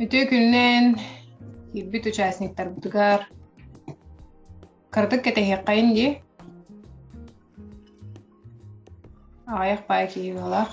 Үтүө күнүнэн киирбит участниктарбытыгар кыратык кэтэһиэххэйин дии. Аҕайах баай киһи буолах.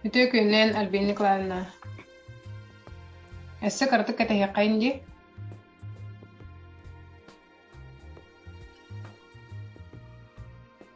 Үтүө күнүнэн, Альбина Николаевна. Өссө кыратык кэтэһиэххин дии.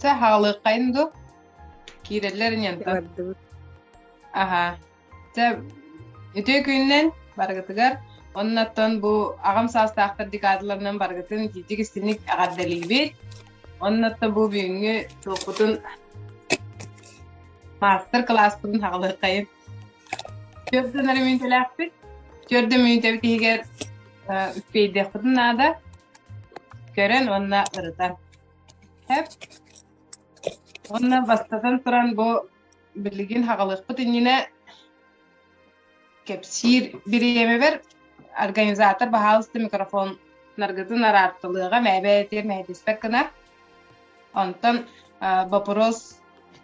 Чэ, хаалыаххайын дуо? Киирэллэр ньанта. Бардыбыт. Аха. Чэ, үтүө күнүнэн барыгытыгар. Оннуттан бу аҕам саастаахтар декадаларынан барыгытын киитик истинник эҕэрдэлиибит. Оннуттан бу бүгүҥҥү туохпутун маастар-кылааспытын хаалыаххайын. Түөрт ыйын эрэ мүнүүтэлээхпит. Түөрт да мүнүүтэбит иһигэр үппиэйдиэхпитин наада. Көрөн уонна ырытан. Сөп. Уонна бастатан туран бу билигин хаҕалыахпыт иннинэ кэпсиир бириэмэбэр организатор баһаалыста микрофоннаргытын араартылыаҕа, мээбээтигэр мэһэдиспэт гына. Онтон бопуруос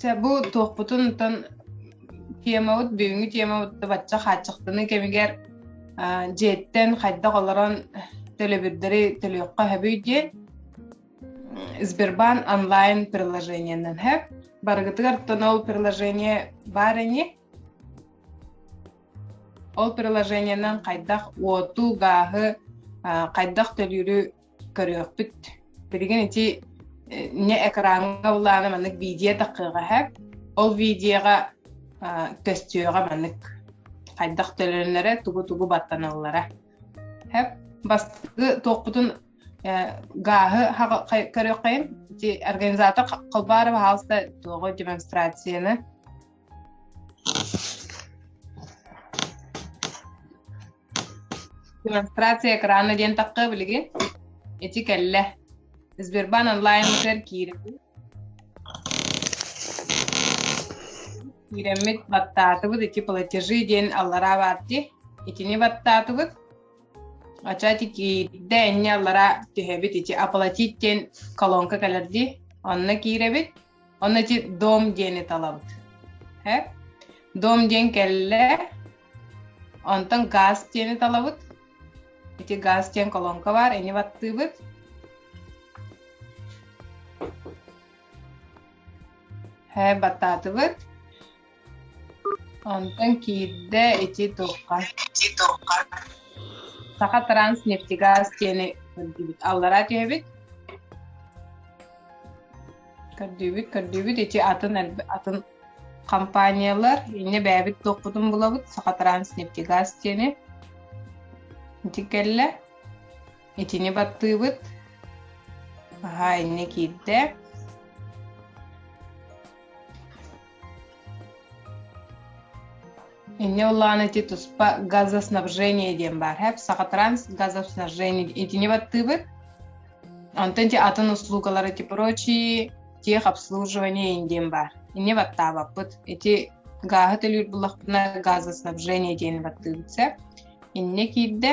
Чэ, бу туохпутун оттон тиэмабыт бүгүҥҥү тиэмабытты бачча хааччахтаныы кэмигэр дьиэттэн хайдах олорон төлөбүрдэри төлүөххэ сөбүй диэн Сбербанк онлайн приложениенан сөп. Барыгытыгар тон ол приложение бар ини. Ол приложениенан хайдах уоту, гааһы, хайдах төлүүрү көрүөхпүт. Билигин ити не экраҥҥа былаана маннык видео таххыаҕа эһэ. Ол видеоға көстүөҕэ маннык хайдах төлөнөрө тугу-тугу баттаналлара. Хэп бастыгы туохпутун гааһы көрүөххэйин ити организатор Колбаров хаалта туоҕу демонстрацияны Демонстрация экрана диэн тахха билиги. Эти кэллэ. Сбербан онлайнбытыгар киирэбит. Киирэммит баттаатыбыт эти платежи диэн аллараа баарти. Итини баттаатыбыт. Ачати киирдэ энне аллара түһэбит ити оплатить диэн колонка кэлэрди. Онно киирэбит. Ону ити дом диэни талабыт. Һэ? Дом диэн кэллэ. Онтон газ диэни талабыт. Ити газ диэн колонка баар, ини баттыыбыт. Һэ, баттаатыбыт. Онтон киирдэ ити туохха Саха Транснефтегаз диэни көрдүүбүт. Аллараа түһэбит. Көрдүүбүт, көрдүүбүт. Ити атын атын компаниялар инньэ бэйэбит туохпутун булабыт Саха Транснефтегаз диэни. Ити кэллэ. Итини баттыыбыт. Аһаа инньэ киирдэ. Инньэ ити туспа газоснабжение диэн баар хэп сахатранс газоснабжение итини баттыыбыт онтон ти атын услугалары ти прочие техобслуживание диэн баар инне баттаабаппыт ити гааһы төлүүр буллахпына газоснабжение диэн баттыыбыт сеп инне киирдэ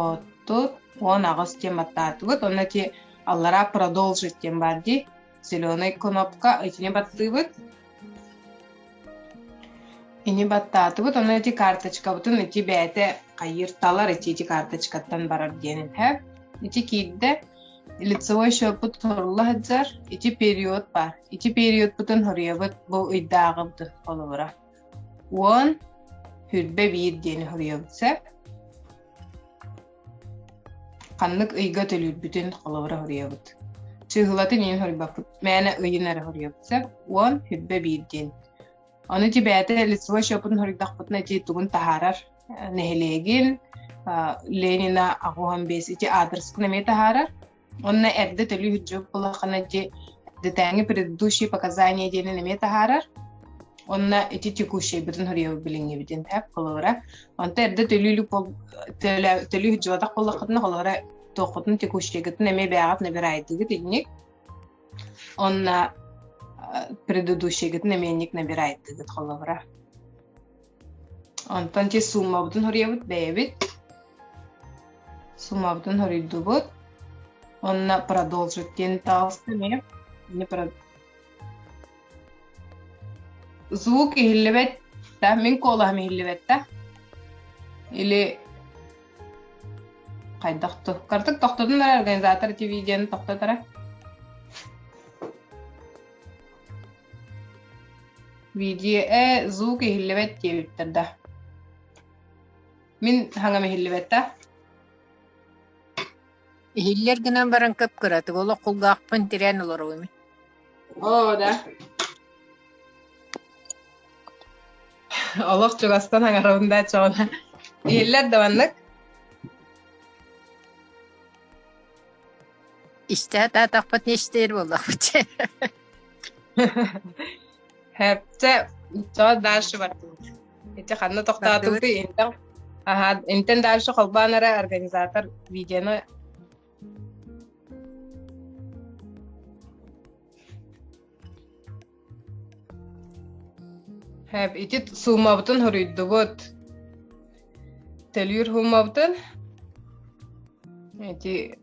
Оттут уон аҕыс диэн баттаатыбыт уонна ити аллараа продолжить диэн баар дии зеленый кнопка итини баттыыбыт ини баттаатыбыт уонна ити карточкабытын ити бэйэтэ хайыыр талар ити ити карточкаттан барар диэн иһэ ити киирдэ лицевой счетпут турулла сылдьар ити период баар ити периодпутун хоруйабыт бу ыйдааҕыбытын холобура уон түрбэ биир диэн хоруйабыт сөп ханнык ыйга төлүүрбүтүн холобура хоруйабыт чыыһылатын иин хоруйбаппыт мээнэ ыйын эрэ хоруйабыт сөп уон түрбэ биир диэн ону тибээтэ лицевой счетун хоруйдахпытына ити тугун таһаарар нэһилиэгин ленина оҕуһан бес ити аадырыскын эмиэ таһаарар Онно эрдэ төлүү сылдьыбыт буоллаххына дии детээҥи предыдущие показания диэнин эмиэ таһаарар. Онно ити текущий бытын хоруйабы билиҥҥибитин тэп холобура. Онто эрдэ төлүүлүк төлүү сылдьыбатах буоллаххытына холобура туоххутун текущийгытын эмиэ бэйэҕит набираайтыгыт инник. Онно предыдущийгытын эмиэ инник набираайтыгыт холобура. Онтон чис сууммабытын хоруйабыт бэйэбит. Сууммабытын хоруйдубут. Онно продолжить диэн таалыста эмиэ. Ини про- Звук иһиллибэт да, мин куолаһым иһиллибэт да. Или хайдах ту? Картык тохтодун ara организатор TV диэн тохтотара. Видео звук иһиллибэт диэбиттэр да. Мин хаҥам иһиллибэт да. Иһиллэр гынан баран кып-кыратык олох кулгаахпын тирээн олоруум. Оо да. Олох чугастан хаҥарабын да чоҕуна. Иһиллэр да маннык. Истэ атаатахпыт нештер боллахпыт. Һэрчэ иччоҕо дальше бардыбыт. Ити ханна тохтоотугутуй Бардыбыт. интэн аха интэн дальше холбоон эрэ организатор видеоны Һэп ити суумабытын хоруйдубут. Төлүүр суумабытын эти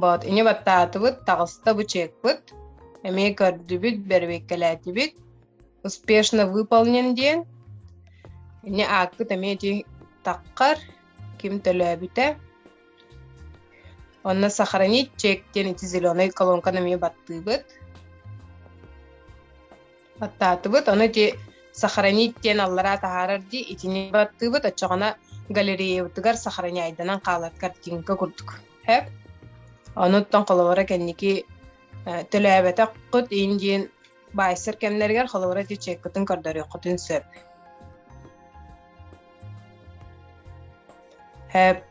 Боот ини баттаатыбыт, таҕыста бычыакпыт, эмиэ көрдүбүт, бэрэбиэркэлээтибит, успешно выполнен диэн. Ини аакпыт эмиэ ити таххар, ким төлөөбүтэ. Онно сохранить чек диэн ити зеленый колонканы эмиэ баттыыбыт. Баттаатыбыт, ону ити сохранить диэн аллараа таһаарар дии, итини баттыыбыт, оччоҕуна галереябытыгар сохраняйданан хаалар картинка курдук. Хэп? Онуттан холобура кэнники төлөөбөтөххүт ин диэн байсер кэмнэригэр холобура ити чеккытын көрдөрүөххүтүн сөп. Хэп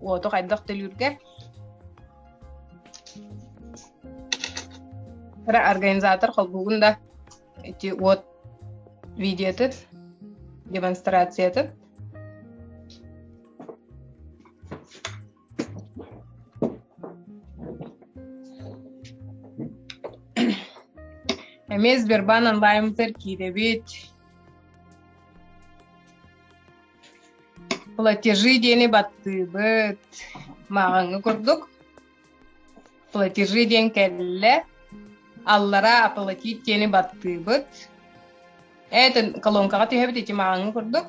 Уоту хайдах төлүүргэр? Кыра организатор холбуугун да эти вот видеотыт, демонстрациятыт. Эмиэ Сбербан онлайн киирэбит. платежи диэни баттыыбыт мааҕаҥҥы курдук платежи диэн кэллэ аллараа оплатить диэни баттыыбыт этин колонкаҕа түһэбит ити мааҕаҥҥы курдук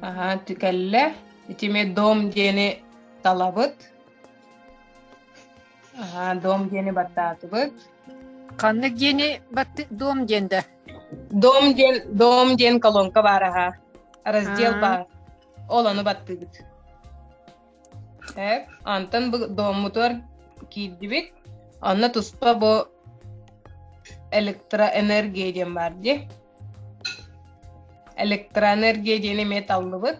аха кэллэ итими дом диэни талабыт аха дом диэни баттаатыбыт ханнык диэни баттык дом диэн да Дом диэн, дом диэн колонка баар аһа. Раздел А. баар. Ол ону баттыыбыт. Так, онтон бу доммутугар киирдибит. Онно туспа бу электроэнергия диэн бар ди. Электроэнергия диэн эмиэ таллыбыт.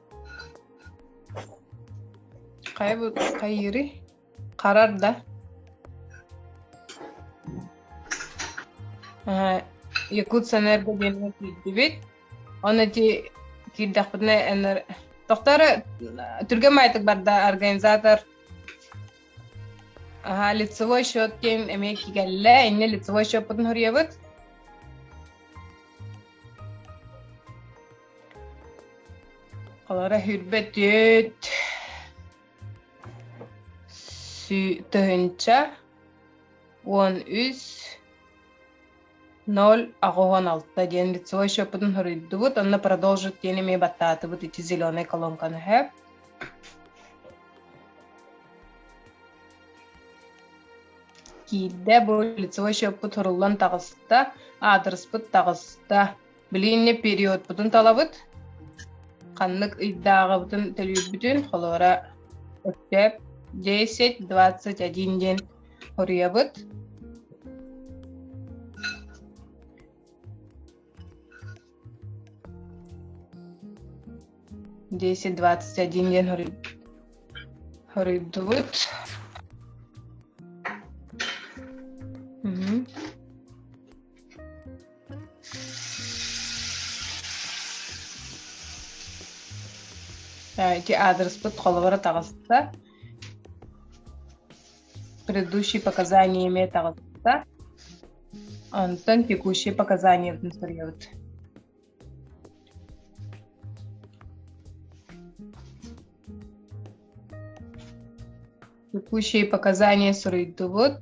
Хайбыт хайыырый? Харар да? Э, Якутсэнерго диэҥҥэ киирдибит. Оны ити киирдэхпитинэ энэр Тохтары түргө маайтык барда организатор аха лицевой счет диэн эмиэ кигэллэ иннэ лицевой счеппутун хоруйабыт Алара хүрбөтүт тыһынча уон үс ноль аҕыһон алта диэн лицевой счеппутун хоруйдубут онно продолжить диэн эмиэ баттаатыбыт ити зеленая колонканы сөп киирдэ бу лицевой счеппут хоруллан таҕыста аадырыспыт таҕыста Билиҥҥи периодпутун талабыт, ханнык ыйдааҕыбытын төлүүрбүтүн, холобура, өктөөп десять двадцать один диэн хоруйабыт. десять двадцать один диэн хоруйдубут. ити аадырыспыт холобура таҕыста предыдущие показания эмиэ таҕыста онтон текущие показаниябытын суруйабыт текущие показания суруйдубут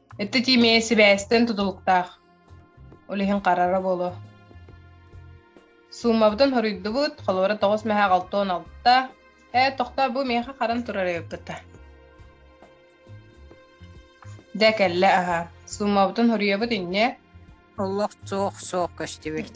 Ити тиимэйэ сибээстэн тутулуктаах, ол иһин харара буолуо. Суумабытын хоруйдубут, холуора тоҕус мэһэ аҕалта уон алта. Ээ, тохтоо, бу миэхэ харан турара ыппыта. Дэ кэллэ аһа. Суумабытын хоруйабыт инньэ. Олох суох суох көстүбүт.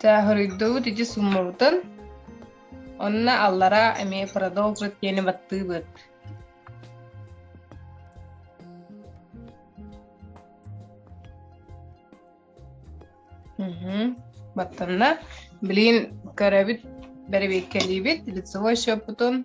Тааһырыйдыбыт ити суммабытын, онно аллараа эмиэ продолжит диэни баттыыбыт Уһу. Баттанна. Блин, көрөбүт, бэрэбиэркэлиибит, лицевой счеппутун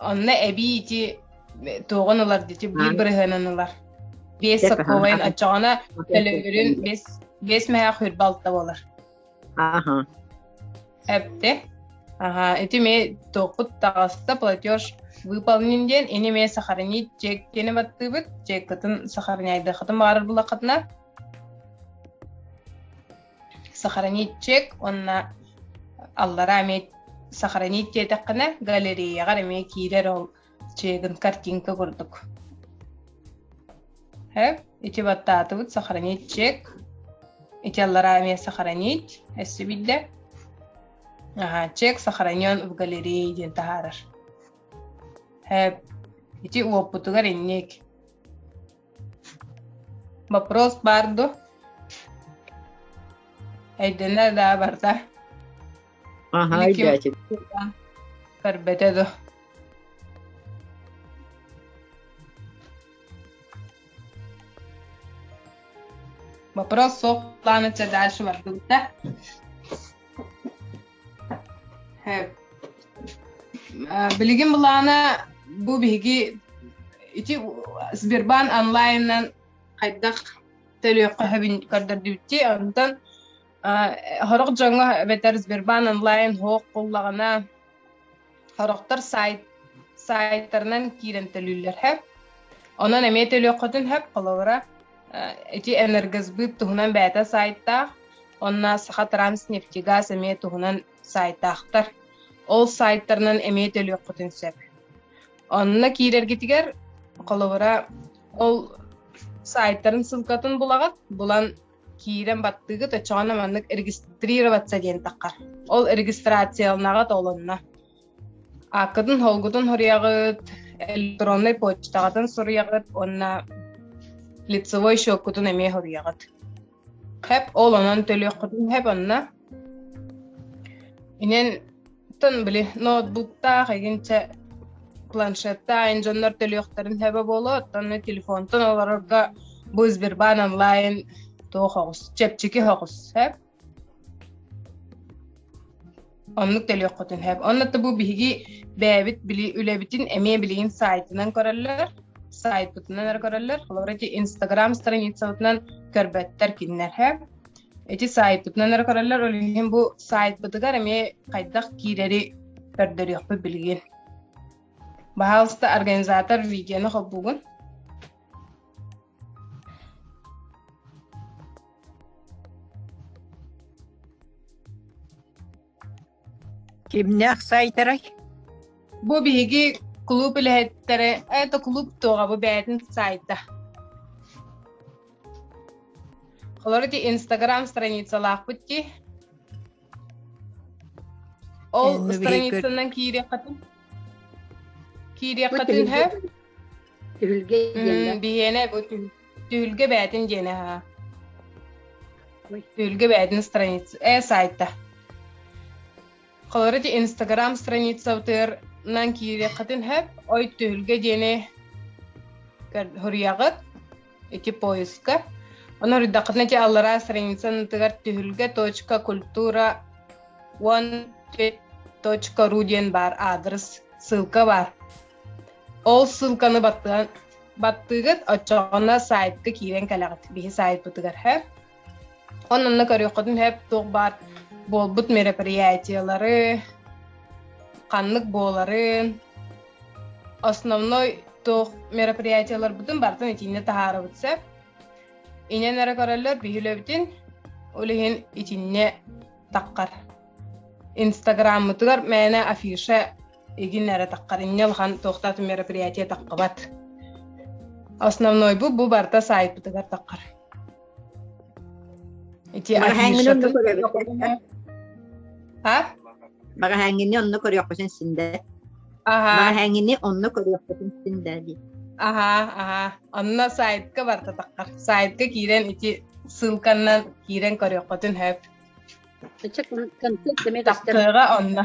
Онно эбии туоҕун ылар дьити биир бырыһыанын ылар. Биэс сопковайын оччоҕуна төлөбүрүн бес бес мэһэ хүр балта болар. Аха. Әпте. Аха, ити ме тоқут тағасса платеж выполнен ден, ини ме сахарнит чек тені баттыбыт, чек кытын сахарняйды хатын бағарыр бұлақатына. сохраничек уонна аллараа эмиэ сохранить диэтэххинэ галереяҕар эмиэ киирэр ол чыыгын картинка курдук ити баттаатыбыт сохранить чек ити аллараа эмиэ сохранить өссө биллэ аха чек сохранен в галерее диэн таһаарар ити уоппутугар инник Боппуруос баар дуо? Өйдөнө да барда. Аха, өйдөөтүм. Көрбөтө да. Вопрос суох планы дальше бардыбыта. Билигин былаана бу биһиги ити Сбербанк онлайнынан хайдах төлүөххэһэбин көрдөрдүбүтти онтон сорох дьоҥҥо эбэтэр Сбербанк онлайн хоһ буллаҕына сорохтор сайт сайтарынан киирэн төлүүллэр хэп онон эмиэ төлүөххүтүн хэп холобура эти энергосбыт туһунан бэйэтэ сайтаах онно саха транснефтегаз эмиэ туһунан сайтаахтар ол сайтарынан эмиэ төлүөххүтүн сөп онно киирэргитигэр холобура ол сайтарын ссылкатын булаҕыт булан киирэн баттыыгыт оччоҕуна маннык регистрироваться диэнтэххэ ол регистрациялааҕа толонно ааккытын холгутун суруйаҕыт электроннай почтаҕытын суруйаҕыт уонна лицевой счеккутун эмиэ суруйаҕыт хэп ол онон төлүөххүтүн хэп онно Инэн тан били ноутбуктаах игин чэ планшеттаах ин дьоннор төлүөхтэрин сөбө буолуо, оттон эмэ телефонтан олорорго бу Сбербаан онлайн туох оҕус, чэпчэки оҕус сөп. Оннук төлүөххүтүн сөп. Онно та бу биһиги бэйэбит били үлэбитин эмиэ билигин сайтынан көрөллөр, сайтпытынан эрэ көрөллөр. Олор эти Инстаграм страницабытынан көрбөттөр кинилэр сөп. ити саайтпытынан эрэ көрөллөр ол иһин бу сайтпытыгар эмиэ хайдах киирэри көрдөрүөхпүт билигин баһаалыста организатор видеоны холбуугун Кимнээх сайтарай? Бу биһиги кулууп үлэһиттэрэ это кулууп туоҕа бу бэйэтин сайта. Холоро ити Инстаграм страницалаахпыт ки. Ол страницанан киириэххитин киириэххитин һэ. Биһиэнэ бу Түһүлгэ бээтин диэн аhaa. Түһүлгэ бээтин страница. Э сайта. Холорити Инстаграм страницабытыгар нан киириэххитин хөп. Ой түһүлгэ диэни хоруйаҕыт ити поиска. Оны үрдәққытына те аллара страницанытыгар түһүлгэ точка культура он ру диэн бар адрес ссылка бар. Ол ссылканы баттыган баттыгыт оччоҕуна сайтка киирэн кэлэҕит биһи сайтпытыгар һэп он онно көрүөххүтүн һэп туох баар буолбут мероприятиелары ханнык буоларын основной туох мероприятиеларбытын бартын итинне таһаарабыт сеп инен эрэ көрөллөр биһилэбитин улиһин итинне таққар инстаграммытыгар мээнэ афиша игин эрэ таххар инне улахан туохтаатын мероприятие таххыбат основной бу бу барыта сайтпытыгар таххар ити а маҕаһээҥҥини онно көрүөхпүтүн синдэ маҕаһээҥҥини онно көрүөхпүтүн синдэ ди аха аха онно сайтка барта таххар сайтка киирэн ити ссылканнан киирэн көрүөхпүтүн хөп концерт онно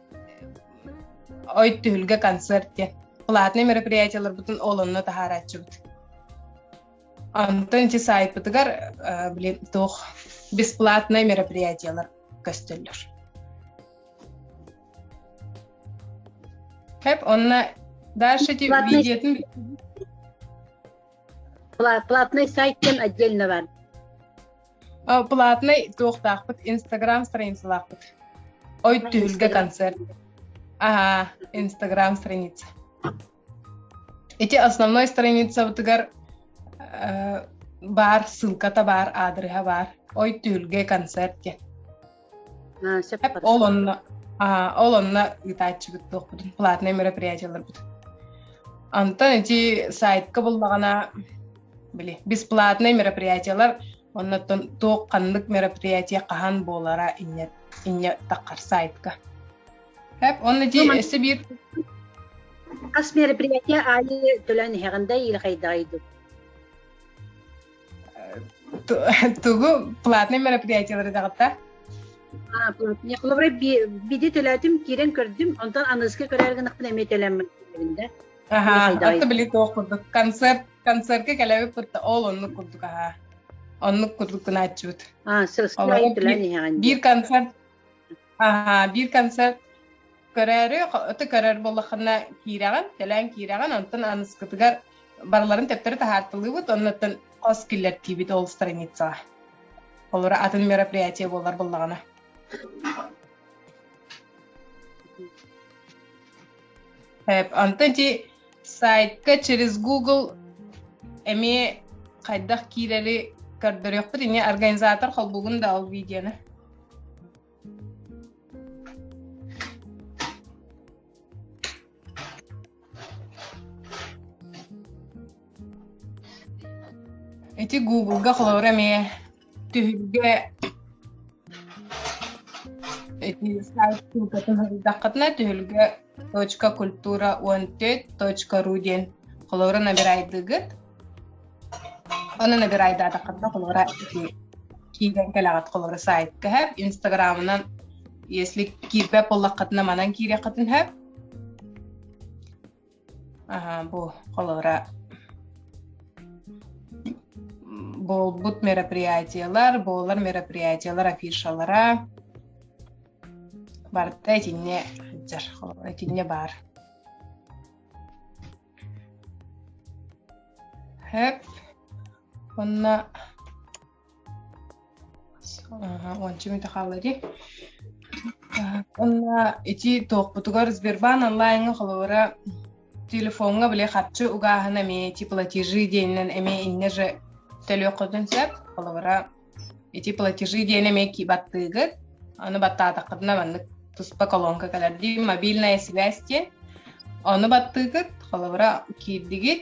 Ой түһүлгэ концерт диэн. Платный мероприятиеларбытын ол онно таһаарааччыбыт. Онтон чи сайтпытыгар, блин, туох бесплатный мероприятиелар көстөллөр. Хэп онна дальше ти видеотын Платный сайт отдельно бар. платный туохтаахпыт инстаграм страницалаахпыт ой түһүлгэ концерт аhaa инстаграм страница ити основной страницабытыгар баар ссылката баар аадырыһа баар ой түһүлгэ концерт диэн ол онно ол онно ыытааччыбыт туохпутун платнай мероприятиеларбыт онтон ити сайтка буллаҕына били бесплатнай мероприятиелар оннуттан туох ханнык мероприятие хаһан буолара инньэ инньэ таххар сайтка Хэп онно ти эссе биир хас мероприятие аайы төлөөн иһэҕин да иилэхэйдэҕэй Тугу платный мероприятиелары даҕата? А, платная. Холобура, биди төлөөтүм, киирэн көрдүм, онтон аныыска көрөөр гынахпын эмиэ төлөммүн да. Аха, атта били туох курдук. Концерт, концертке кэлэбит курта ол оннук курдук аха. Оннук курдук гынааччыбыт. А, сылсына төлөөн иһэҕин. Биир концерт Аха, биир концерт көрөөрү, аты көрөр буоллахына киирэҕин, кэлээн киирэҕин, онтон аныскытыгар барыларын төттөрү таһаартылыыбыт, оннуттан хос киллэртиибит ол страницаҕа. Олора атын мероприятие буолар буллаҕына. Онтон чи сайтка через google эмиэ хайдах киирэри көрдөрүөхпүт иньэ организатор холбугун да ол видеоны ити гуглга холобура эмиэ Түһүлгэ эти ссылкатын ырдаххытына түһүлгэ точка культура он төрт точка ру диэн холобура набирайдыгыт оны набирайдаатаххытына холобура киирэн кэлэҕит холобура сайтка сөп инстаграмынан если киирбэт буоллаххытына манан киириэххитин сөп бу холобура буолбут мероприятиелар буолар мероприятиелар афишалара барыта итинне сылдьар итинне баар хэп онно уонча мүнөтө хаалла дии уонна ити туохпутугар Сбербанк онлайҥҥа холобура телефоҥҥа били харчы угааһына эмиэ ити платежи диэнинэн эмиэ иннэ же төлүөххүтүн сөп холобура ити платежи диэн эмиэ баттыыгыт аны баттаатаххытына маннык туспа колонка кэлэр дии мобильная связь диэн ону баттыыгыт холобура киирдигит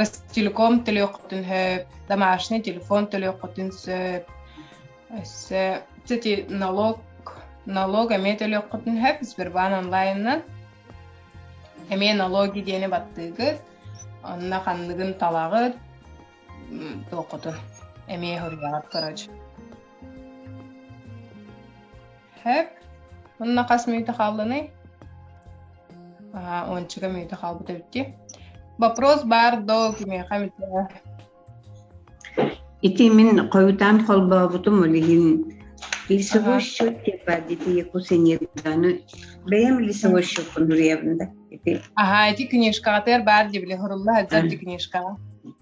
Ростелеком төлүөххүтүн сөп, домашний телефон төлүөххүтүн сөп. Өссө, кстати, налог налог эмиэ төлүөххүтүн сөп Сбербанк онлайнынан. Эмиэ налоги диэни баттыыгыт, онно ханныгын талаҕыт, туоххутун эмиэ суруйаҕыт, короче. Сөп. Онно хас мүйтэ хааллыный? Аһа, ончуга мүйтэ хаалбыт эбит дии. Вопрос бар доо кимиэхэ эмитэ. Ити мин хойутаан холбообутум ол иһин лесовой счет депардити якусеньеддану бэйэм лесовой счеккун туруйабын да ити Аһа, ити книжкаҕытыгар баар дии били, хурулла сылдьар ити книжкаҕа.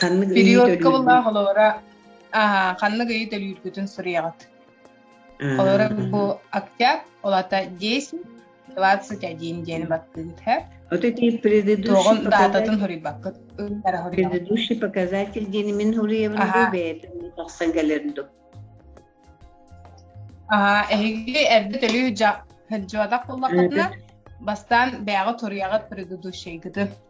ханнык периодка былаах олоҕура ханнык ыйы төлүүргүтүн суруйаҕыт олоро бу октябрь ол ата десять двадцать один диэн баттыыгыт һэ Вот эти предыдущий, предыдущий показатель диэн мин хуруйабын бэйэтин тахсан кэлэрдо. Аха, эһиги эрдэ төлүү жадах буллахытына, бастан бэйэҕэ туруйаҕыт предыдущийгытын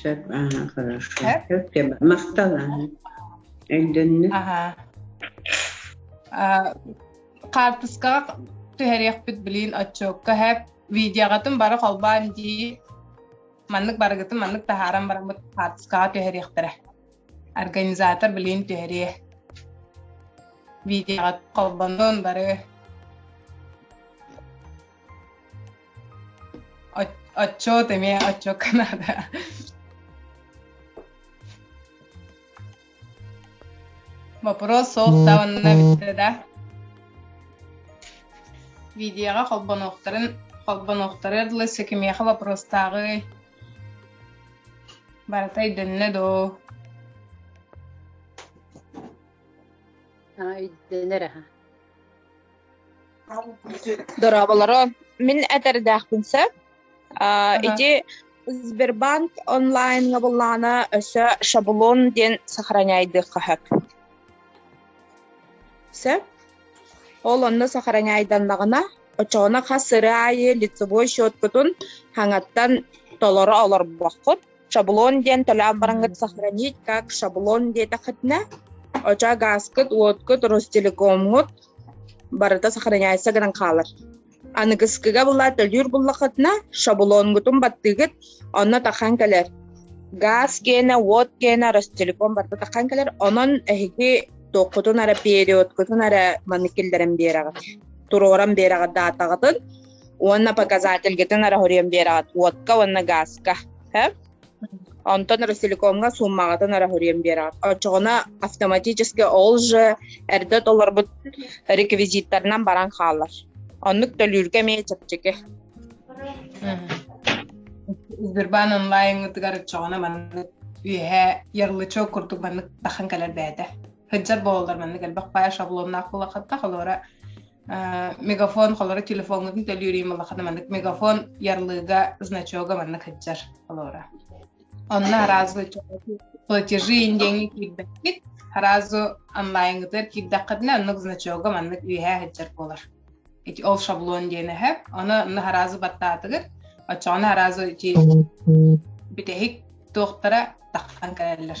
Сөп, ага, хорошо. Сөп Махтал, ага. Өйдөннө. Ага. Хаартыскаҕа түһэриэхпит билин отчуокка хэп видеоҕатын бары холбаан дии маннык барыгытын маннык таһааран бараммыт хаартыскаҕа түһэриэхтэрэ организатор билин түһэриэ видеоҕа холбонуон бары Отчет имея отчет Канада. Вопрос суохтаанна бүттэ да. Видеоға холбонуохтарын холбонуохтары дылы секимеха вопростағы барыта өйдөннө доо. А өйдөнөр аха. Дорооболоро, мин этэрдээхпин сөп. Ити Сбербанк онлайнга буллаана өссө шаблон диэн сохраняйдыахха сөп. Сөп? Ол онно сохраняйданнаҕына, очоҕуна хас сыры аайы лицевой счеткутун хаҥаттан толоро олорбоккут, шаблон диэн төлөөх бараҥыт сохранить как шаблон диэтэхитинэ оча гааскыт уоткут ростелекомҥут барыта сохраняется гынан хаалар аныгыскыга була төлүүр буллахытына шаблонгутун баттыгыт онно тахан кэлэр газ киэнэ уот киэнэ ростелеком барыта тахан кэлэр онон эһиги туоххутун эрэ периодкутун эрэ манны киллэрэн биэрэҕит туруоран биэрэҕит даатаҕытын уонна показательгытын арахорием биэрэҕит уотка уонна гааска э? онтон ростелекомҥа сууммаҕытын арахорием биэрэҕит оччоҕуна автоматически ол же эрдэ толорбут реквизиттарынан баран хаалар оннук төлүүргэ эмиэ чэпчэки Сбербан онлайнгытыгар оччоҕуна маннык үөһэ ярлычок курдук маннык тахан кэлэрбээтэ сыдьар буолаллар маннык элбэх пая шаблоннаах буолаххатта холора мегафон холоро телефоҥҥутун төлүүрүүм улахана маннык мегафон ярлыыга значога манна кыддьар холора онно аразы платежи индиэҥи киирбэккит аразу онлайнгытыгар киирдэххитинэ оннук значога маннык үөһээ сылдьар буолар эти ол шаблон диэн эһэ ону онно аразы баттаатыгыр оччоҕуна аразу эти бүтэһик туохтара таххан кэлэллэр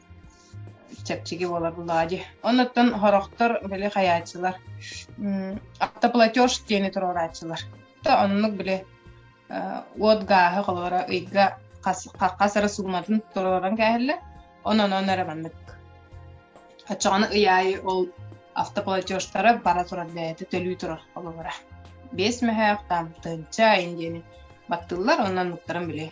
чэпчэки буолар дылаадьы. Оннуттан хороктор били хайааччылар автоплатеж диэни туруорааччылар. Оннук били уот гааһы холора ыйга хас эрэ сууматын туруоран кээһэллэ. Онон он эрэ маннык. Оччоҕуна ый аайы ол автоплатежтара бара турар бэйэтэ төлүү турар хололора. Бес мөһөөх там тынча диэни баттыллар, оннан муктарын били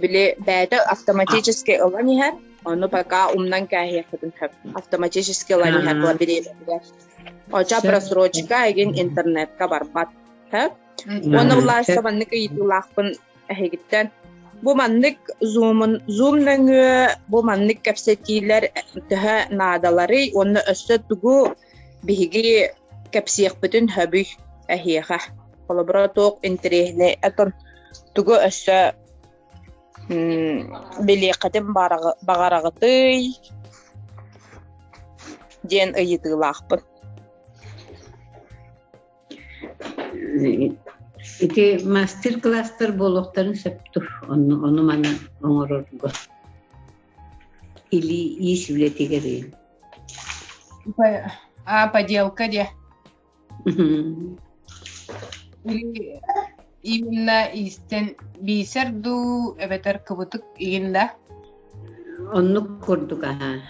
Били бэйэтэ автоматически ылан иһэр, ону пока умнан кээһиэхпитин сөп. Автоматически ылан иһэр була билиэбитигэр. Оча просрочка эгин интернетка барбат. Сөп. Уонна улаастабаннык ыйытыылаахпын эһигиттэн бу маннык зумун зум нөҥүө бу маннык кэпсэтиилэр төһө наадаларый уонна өссө тугу Биһиги кэпсиэхпитин сөбүй эһиэхэ. Холобура туох интэриэһинэй этон тугу өссө билиэххитин баҕараҕытый диэн ыйытыылаахпын. Ити мастер-класстар буолуохтарын сөп тур. Ону, ону маны оҥорорго. Или иис үлэтигэр А, поделка диye. Или именно истен бисер ду эбетер кыбытык игинда. Оннук курдук аха.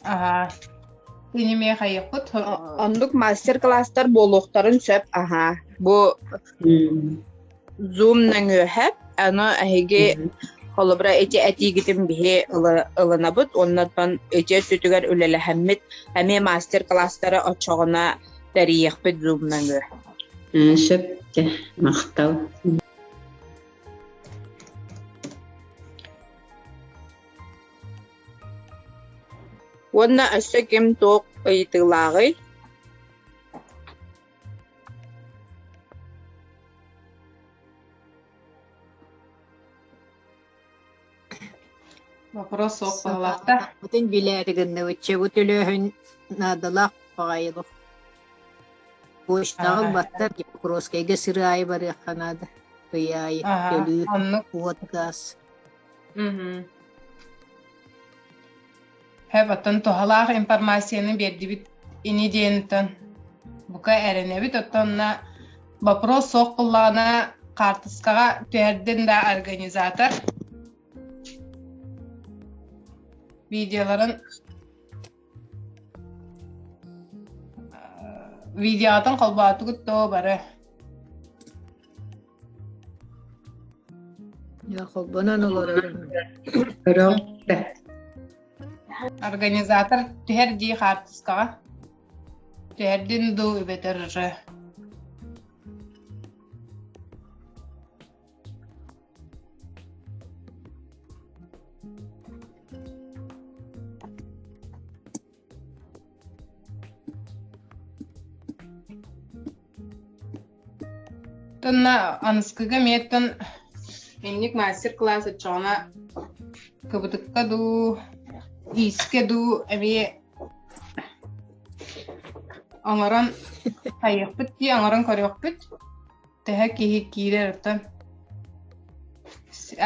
Аха. Иниме хайыкпыт. Оннук мастер класстар буолуохтарын сөп аха. Бу Zoom нөҥүөһэп, аны эһиги холобура ити этиигитин биһи ылынабыт уонна оттон ити өттүтүгэр үлэлэһэммит эмиэ мастер-класстары оччоҕуна тэрийиэхпит Zoom нөҥүө. Ээ, сөп этэ, махтал. Уонна өссө ким туох ыйытыылааҕый? Вопрос суох баалаахта. Бүтүн билээри гынныбыччы бу төлөһүн наадалаах баҕайылық. Почтаҕа баттар Покровскайга сыр аайы барыахха наада. Ый аайы төлүүр куот газ. Һэп, оттон туһалаах информацияны биэрдибит ини диэниттэн бука эрэнэбит, оттонна вопрос суох буллаҕына хаартыскаҕа түһэрдин да организатор видеоларын видеоҕытын холбоотугут доо бары Якобынан олорорум. Өрөҥ бэрт. Организатор түһэр дии хаартыскаҕа. Түһэрдин дуу үбэтэр ыры. Тонна аныскыга миэттон инник мастер-класс отчоҕуна кыбытыкка дуу, иискэ дуу эмиэ оҥорон хайыахпыт дии оҥорон көрүөхпүт. Тэһэ киһи киирэр оттон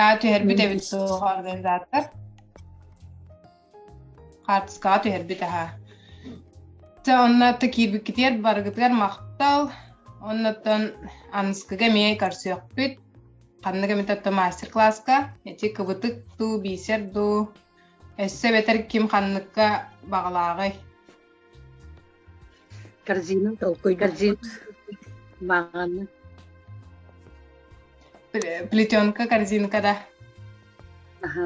аа түһэрбит эбит суох организатор. хаартыскаҕа түһэрбит аһа Дьэ онно атта киирбиккитигэр барыгытыгар махтал оннуттан аныскыга эмиэ көрсүөхпүт ханнык эмит отто мастер класска эти кыбытык дуу бисер дуу өссө эбэтэр ким ханныкка баҕалааҕый корзина толкуй корзина баҕаны плетенка корзинка да аха